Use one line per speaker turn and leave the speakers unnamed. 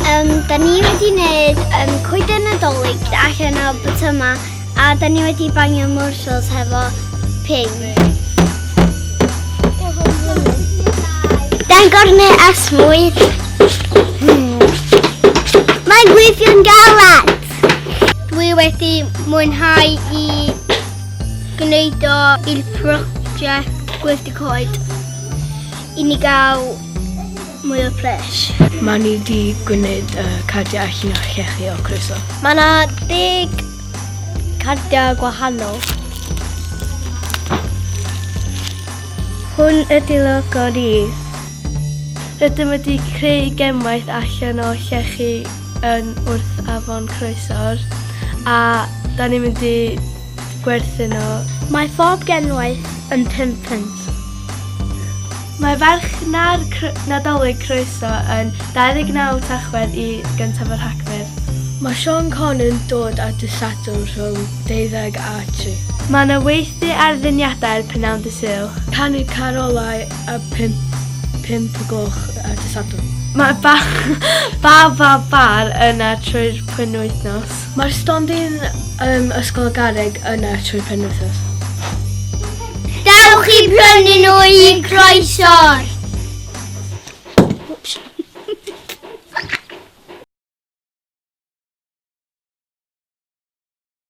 Um, da ni wedi gwneud um, coeden nadolig allan o bwytyma a da ni wedi bangio morsels hefo ping. Da'n gornau a smwydd. Hmm. Mae'n gweithio'n galad. Dwi wedi mwynhau i gwneud o i'r prosiect gweithio coed i ni gael mwy o pres. Mae ni di
gwneud uh, cardiau allan o llechi o croeso. Mae yna
deg cardiau gwahanol.
Hwn ydy logo ni. Rydym wedi creu gemwaith allan o llechi yn wrth afon Croesor a da ni'n mynd i gwerthu nhw. Mae phob
genwaith yn pum punt.
Mae farchnad cr Nadolig Croeso yn 29 Tachwedd i gyntaf o Rhagfyr. Mae Sean Conn yn dod ar Dydd Sadwrn rhwng deuddeg a tri. Mae yna weithdy ar ddeniadau'r Prynhawn Dydd Sul. Canu carolau a pump, pump o gloch ar Dydd Sadwrn. Mae ba, ba, ba, bar yna trwy'r pwynwythnos. Mae'r stondin um, Ysgol y Garreg yna trwy penwythnos.
Dewch i brynu nhw i croeso'r!